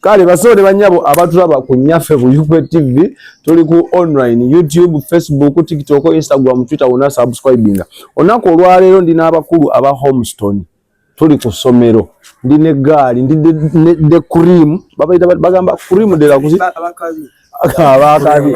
kale basawo ne banyabo abatulaba ku nyaffe ku Yupe TV tuli ku online YouTube, Facebook, TikTok, Instagram, Twitter wona subscribinga olunaku olwaleero ndi n'abakulu aba Homestone tuli ku ssomero ndi ne gaali ndi de cream babayita bagamba cream de la kuzi abakabi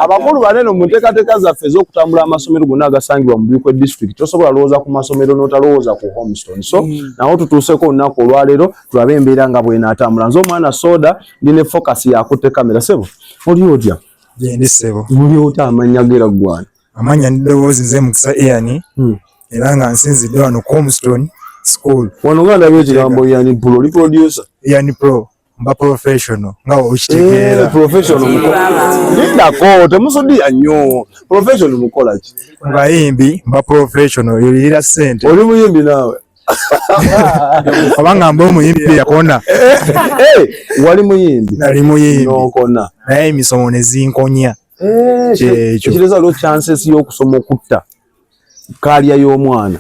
abakulu banene mu nteekateeka zaffe ez'okutambula amasomero gonna agasangibwa mu bikwe district tosobola lowooza ku masomero n'otalowooza ku homestone so mm. nawo tutuuseko olunaku olwaleero tulabe embeera nga bwenatambula nze omwana soda ndi ne focus yakutte kamera sebo oli otya gendi sebo oli otya amannya gera ggwana amannya ndidowoozi nze mukisa eyani hmm. era nga nsinzidde wano ku homestone school wano nga ndabye ekigambo yani pro oli producer yani pro mba professional nga okitegeera eh, professional lindako temusudiya nnyo professional mukola ki bayimbi mba professional yolirira sente oli muyimbi naawe abanga mba omuyimbi yakona eh, eh, wali muyimbi nali muyimbi nokona naye emisomo nezinkonya kyekyo ekireza lo chances y'okusoma okutta kaalya y'omwana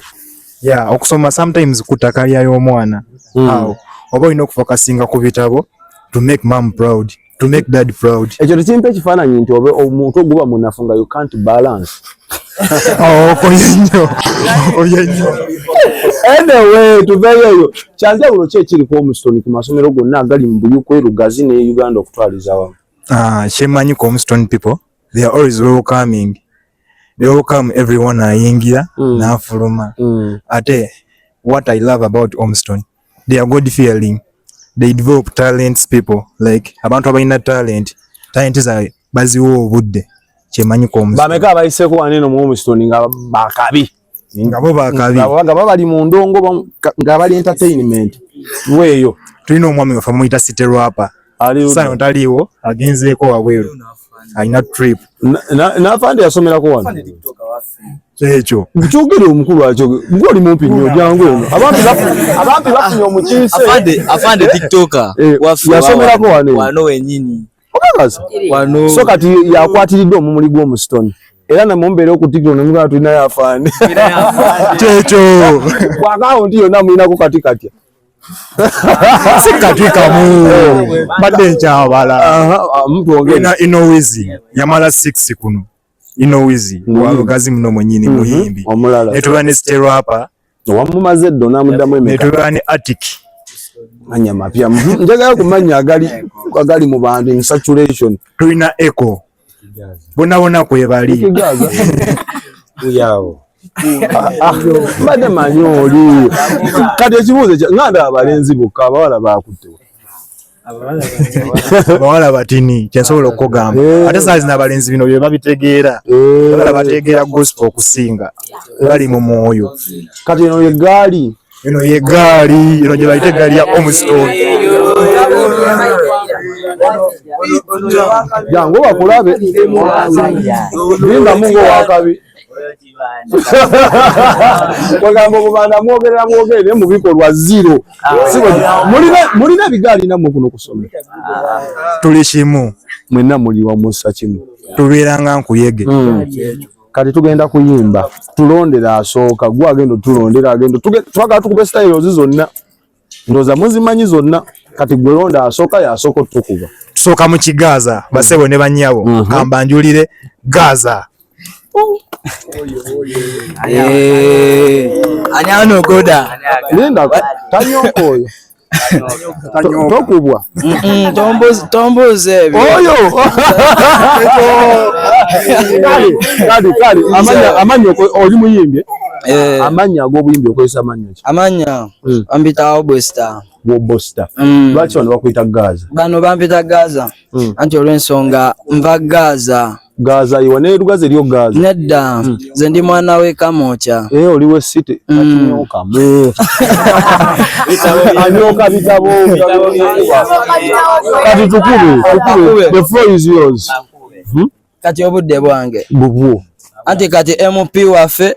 ya okusoma sometimes kuta kaalya y'omwana hmm. awo oba olina okufokasinga ku bitabo to make mom proud to make dad proud ekyo tekimpa ekifaananyi nti obe omuntu oguba munafu nga you can't balance oh, anyway tuveyo eyo kyanjawulo ki ekiri ku omusitoni ku masomero gonna agali mu buyukwe lugazi ne uganda okutwaliza wamu ah, kyemanyi ku omusitoni people they are always welcoming they all come everyone ayingira mm. nafuluma mm. ate what i love about omston they are god fearing they develop talents people like abantu abalina talent talent zaabwe baziwa obudde kyemanyi ku omston bameka abayiseko waneno mu omston nga bakabi ba nga bo bakabi nga baba bali mu ndongo nga bali entertainment weeyo tulina omwami waffe muyita city rapa sano taliiwo agenzeeko wabweru alina trip nafande yasomerako wano ekyo kyogere omukulu akyo gwe oli mumpi nnyo jangu eno abampi bafunye omukiise yasomerako wano wenyini obabaza wano so kati yakwatiridde omumuli gw'omusitoni era namwe mumbeera okutikira nomugala tulina yafaani kyekyo ku akawunti yonna mulinako kati katya si kati kamu mbadde nkyabala ino wizi yamala six kuno ino wizi walogazi muno mwenyini mm -hmm. muyimbi omulala netuba ne sterapa wamumaze eddo namudamu emeka netuba ne attic manya mapya mhm. njagala kumanya agali agali mu bantu in saturation tulina echo bona bona kwebali yawo mbadde manyi oli kati ekibuuzo nga ndaba balenzi bokka abawala baakuttewo abawala batini kyensobola okukugamba eh. ate saa zina abalenzi bino bye babitegeera eh. abala bategeera gospel okusinga bali mu mwoyo kati eno yegaali eno yegaali eno gye bayita egaali ya omstone jangu bakulabe limba mungu wakabi wagamba obubanda mwogerera mwogere naye mubikolwa zero ah, mulina ebigaali namwe kuno kusoma ah. tuli kimu mwenna muli wamusa kimu tubeeranga nkuyege hmm. kati tugenda kuyimba tulondera asooka gwe agenda otulondera agenda twagala tukube styles zonna ndoza muzimanyi zonna kati gwe londa asooka yasooka otukuba tusooka mu kigaaza basebo ne banyabo mm -hmm. kamba njulire gaza eh. ani anogoda linda tanyoko oyo tokubwa tombuuza ebyo oyo amanya oli muyimbi eh? eh. amanya ag'obuyimbi okozesa amanya ki amanya Mm. Bampita Obosta. Obosta. Mm. Lwaki bano bakuyita Gaza? Bano bampita Gaza. Mm. Anti olw'ensonga nva Gaza. Gaza iwa ne lugaze lyo Gaza. Nedda. Mm. Ze ndi mwana we Kamokya. Eh oli we city. Mm. Atunyoka. Mm. Anyoka bitabo. Kati tukube. Tukube. The floor is yours. Hmm? Kati obudde bwange. Bubwo. Anti kati MP wafe.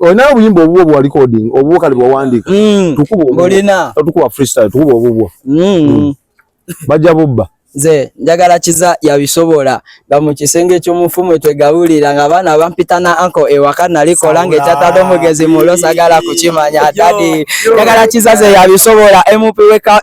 Olina obuyimba obubwo bwa recording obubwo kale bwa wandika. Mm. Tukuba obubwo. Olina. Tukuba freestyle tukuba obubwo. Mm. Mm. Bajja bubba. Ze njagala kiza ya bisobola nga mu kisenge ky'omufumu twegabulira nga abaana abampita na anko ewaka nali kola nga ekyatadde omugezi mulo sagala kukimanya dadi njagala kiza ze ya bisobola emupi weka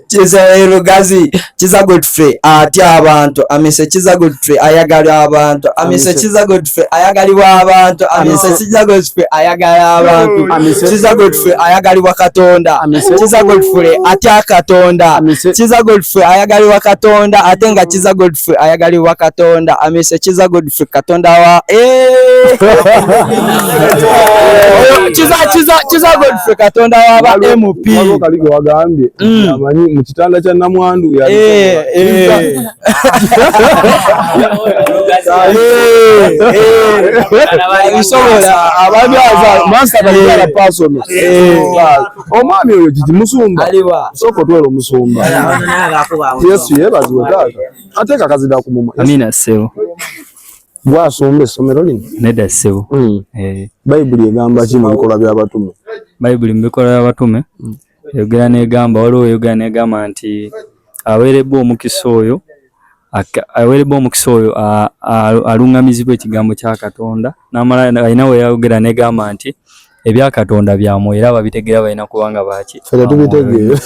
kiza erugazi kiza godfrey atya abantu amise kiza godfrey ayagala abantu amise kiza godfrey ayagalibwa abantu amise kiza godfrey ayagala abantu kiza godfrey ayagalibwa katonda kiza godfrey atya katonda kiza godfrey ayagalibwa katonda ate nga kiza godfrey ayagalibwa katonda amise kiza godfrey katonda wa eh! kiza godfrey katonda waba mp kaligo wagambye mm. amanyi mu kitanda kya namwandu eh, eh. bisobola ababyaza mansakaliara pasono omwami oyo kiki musumba soko twera omusumba yesu yebaziwe taata ate kakazi da kumuma amina sebo gwasomba essomero lino nedda ssebo mm. eh. bayibuli egamba ki mu bikolwa by'abatume bayibuli mu bikolwa by'abatume mm. eyogera n'egamba waliwo eyogera n'egamba nti aweerebbwa omukisa oyo aweerebbwa omukisa oyo aluŋŋamizibwa ekigambo kya katonda n'amala alina we yayogera n'egamba nti ebya katonda bya mwoyo era babitegeera balina kuba nga baaki fena tubitegeera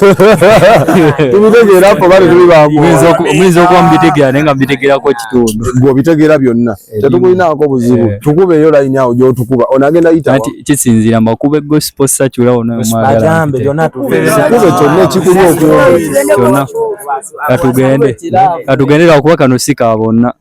tubitegeera apo bali tuli ba mwoyo muyinza okuba mubitegeera naye nga mubitegeerako kitundu gwe obitegeera byonna tetukulinaako buzibu eh. tukubeeyo layini awo gyotukuba onagenda yita nti kisinziira mbakube gospel sacula onomwagalakube kyonna ekikuli okwona katugende katugende lwakuba kano si ka bonna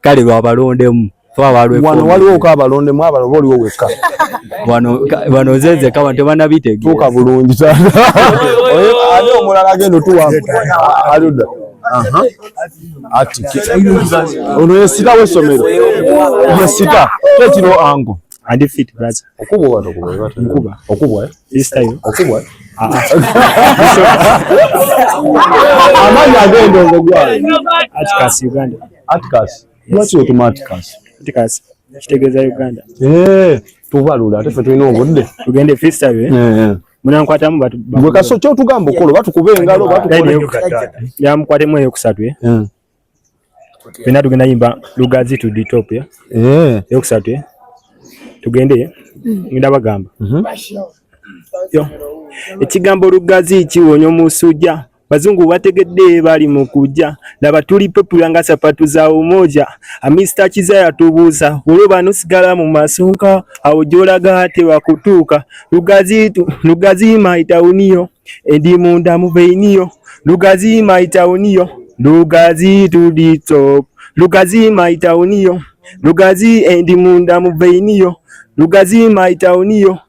kale lwabalondemu wano waliwo ko abalondemu abalo oba oliwo wekka wano nzenze kawa tebanabitegetuuka bulungi ani omulala agenda otuwa aluda ono yesita wesomero yesita kekiro ango okubwa okubwa okubwa amaanyi agenda ogogwa Atticus. Lwaki wetuma Atticus? Atticus. Kitegeeza Uganda. Eh, tubalula ate ffe tulina obudde. Tugende freestyle. Eh. eh, eh. Munankwatamu batu. Gwe kaso kyo tugamba okolo batu kuba engalo batu kuba engalo. Ya mkwate mwe yokusatu eh. Eh. Fena tugenda yimba lugazi to the top ya. Eh. Yokusatu eh. Tugende. Mm. Ngenda bagamba. Mhm. Yo. Ekigambo lugazi kiwonyo musujja. Bazungu bategedde bali mu kujja laba tuli popular nga sapatu za umoja amista kiza yatubuuza olwo bano sigala mu masonka awo gyolaga tewakutuuka lugazi lugazi maitawuniyo endi munda mu veiniyo lugazi maitawuniyo lugazi to the top lugazi maitawuniyo lugazi endi munda mu veiniyo lugazi maitawuniyo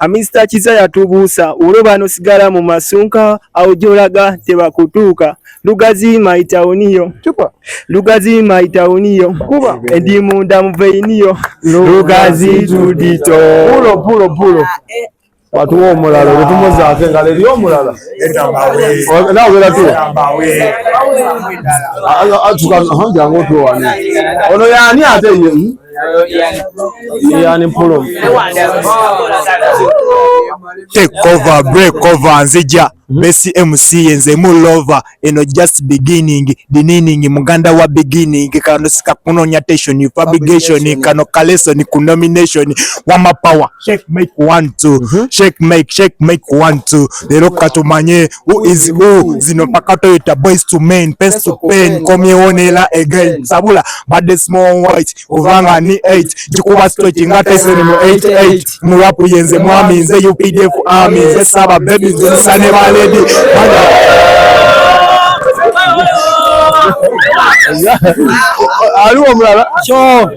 Amisita Kiza yatubuusa olwo banosigala mu masunka awo gyolaga tebakutuuka Lugazi my town yo. Chupa. Lugazi my town yo. Kuba. Endi munda mveini yo. Lugazi tudito. Pulo pulo pulo. Watu wo mulala lutumo za kenga le yo mulala. Eta mawe. Oh, na wela tu. Eta mawe. Ayo atuka hanja ngoto wani. Ono yani ate yemu. Ian Pulum. Take over, break over, nzija hmm? Messi MC nze mu lover eno just beginning dinning muganda wa beginning kano sika kunonya tension fabrication kano kalesoni ku nomination wama power shake make one two mm -hmm. shake make shake make one two lero katumanye Who is who? Zino mpaka toyita boys to men, pens to pen, komyewo nela again. Sabula, bade small white, kuvanga ni 8, jikuba stochi nga tese ni mu 88. Murapu yenze mwami, nze UPDF army, nze saba baby, nze sane ba lady. Aliwa mrala. Sure.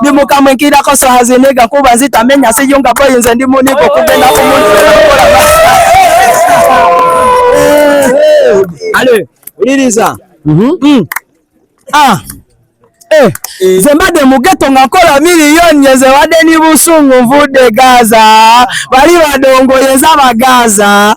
ndi mukama enkirako sohaziniga kuba nzitamenya siyunga boyi nze ndi munigo kugenda ku muntu ale uliriza mhm. mm. ah eh, eh. nze mbadde mu geto nga nkola miliyoni eze wadde ni busungu nvudde gaza bali badongoyeza bagaza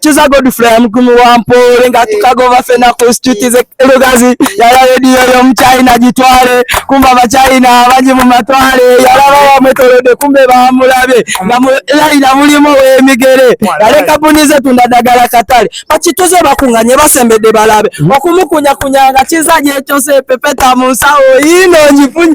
kiza godfrey amukumi wa mpoole nga tukagova fena ku situti ze lugazi yala rediyo yomuchina gitwale kumba abachina abangi mu matwale yalaba wamwetolode kumbe bamulabe nga mulayina mulimu wemigere yale kampuni zetunda dagala katale bakituze bakunganye basembedde balabe okumukunyakunya nga kiza gyekyose pepeta mu nsawo yino ngifunye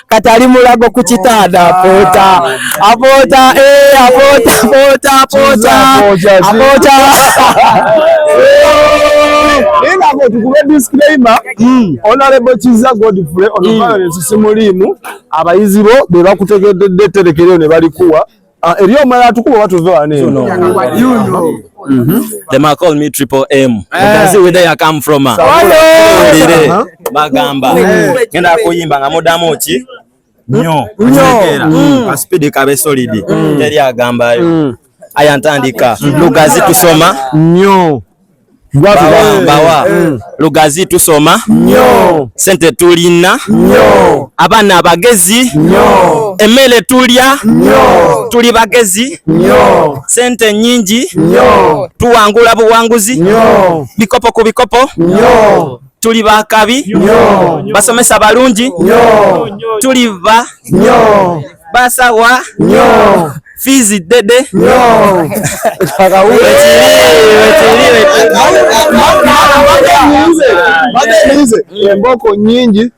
kati ali mulago ku kitanda apoota apoota eh, apoota apoota apoota apoota naye nga abo tukube disclaimer hmm. honorable kiza godfrey onoviolence hmm. simuliimu abayizi bo be bakutegeddedde etterekero ne balikuwa Ah, eriyo omulala atukuba oba tuve wano them are call me triple m eh. can see where i come from ah. ndire uh-huh. bagamba eh. ngenda kuyimba nga mudamu ki nyo nyo mm. ka speed kabe solid mm. teri agambayo mm. aya ntandika lugazi tusoma nyo mbawa eh, eh. lugazi tusoma nyo sente tulina nyo abaana abagezi nyo emmere tulya nyo tuli bagezi nyo sente nyingi nyo tuwangula buwanguzi nyo bikopo ku bikopo nyo tuli bakabi nyo basomesa balungi nyo tuli ba nyo basawa nyo Fizi dede emboko nyingi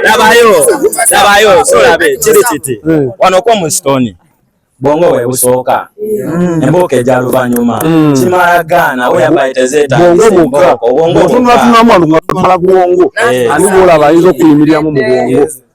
nabayo nabayo solabe kiri kiti wano kwa musitoni bwongo bwe busooka mm. embuuka egya luvannyuma mm. kimala gaana we yambaye tezeetaobwongotunulatunulamu alumala bwongo eh. ani bwolaba ayinza okuyimiriramu mu bwongo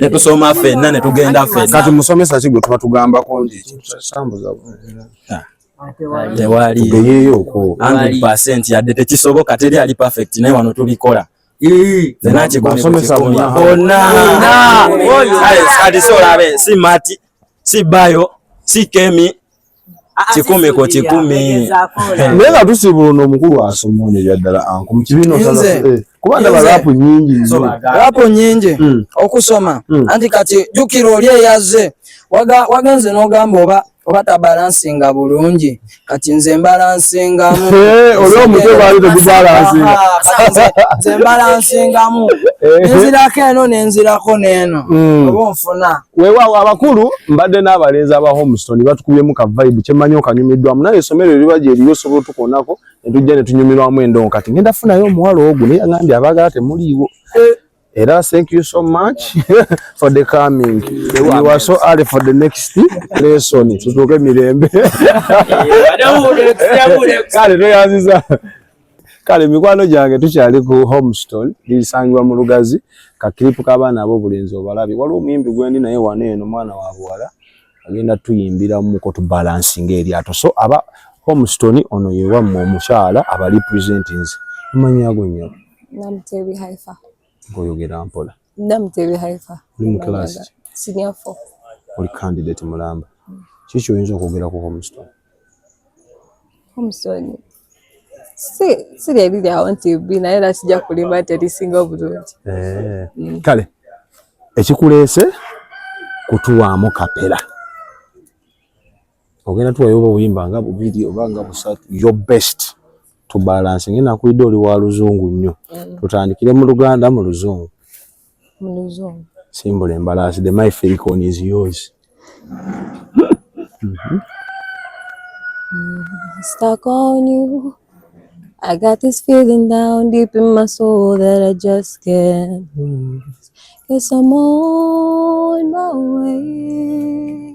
ne tusoma fenna ne tugenda fenna. Kati musomesa ki gwe tuba tugambako nti kitambuza ah. tewali tugeyeyo okwo anti percent yadde tekisoboka teri ali perfect naye wano tubikola fenna kigumibusomesa bonna kati si olabe si mati si bayo si kemi kikumi ku kikumi naye nga tusiibula ono omukulu asoma ono ebyaddala anku mu kibiina osaza eh, kuba ndaba raapu nyingi nnyo raapu nyingi hmm. okusoma hmm. anti kati jjukira oli eyazze wagenze n'ogamba oba oba tabalansinga bulungi kati nze mbalansingamu eh, oli omutwe baali tegubalansinga nze mbalansingamu eh. nenzirako eno nenzirako n'eno hmm. oba onfuna Weewaawo abakulu mbadde n'abalenzi aba Homestone batukubyemu ka vibe kye mmanyi okanyumiddwamu naye essomero eriba gye liri osobola otukoonako ne tujja ne tunyumirwamu endongo kati ngenda funayo omuwala ogwo naye angambye abaagala temuliiwo eh. era thank you so much for the coming you are so early for the next lesson tutuuke mirembe eh, kale tweyanziza kale mikwano gyange tukyali ku homestone lisangibwa mu lugazi kakiripu k'abaana ab'obulenzi obalabye waliwo omuyimbi gwendi naye wano eno mwana wa buwala agenda tuyimbira muko tubalansinga eryato so aba homestone ono yewammwe omukyala aba representings amanyi ago nyabo Ngoyogera mpola. Namutebe Haifa. Oli mu class ki? Senior 4. Oli candidate mulamba. Mm. Kiki kyoyinza okwogera ku Homestown? Homestown. Si si lye liri awo nti bbi naye era kijja kulima nti erisinga obulungi. Eh. Mm. Kale ekikuleese kutuwaamu kapera. ogenda tuwayo oba oyimba nga bubiri oba nga busatu your best to balance ngenda nkulidde oli wa luzungu nnyo mm. tutandikire mu luganda mu luzungu mu luzungu simbula embalaasi the my felicon is yours mm-hmm. stuck on you I got this feeling down deep in my soul that I just can't lose. Cause I'm on my way.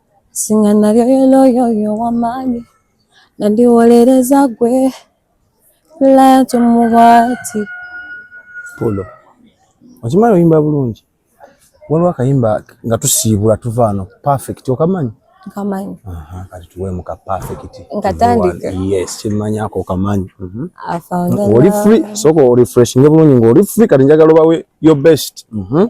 singa nalyoyoloyoyo wamaanyi nandiwolereza gwe latu mubwati pulo okimanyi oyimba bulungi waliwo akayimba nga tusiibula tuva ano perfect okamanyi kamanyi kati tuweemu ka perfect nkatandika yes kimanyi ako kamanyi mhm. oli free soko orefreshinge bulungi ngaoli free kati njagala obawe your best mm -hmm.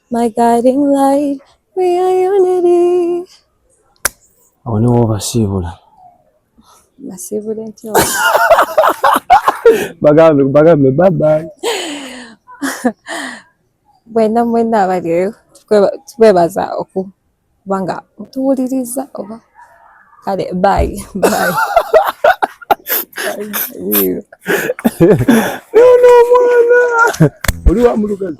My guiding light, we are unity. Awo ne wobasiibula. Basiibule ntyo. Bagambe bagambe bye bye. Bwena mwena abaliyo tukwebaza okuba nga mutuwuliriza oba kale bayi bayi. Nono omwana oli wa mulugazi.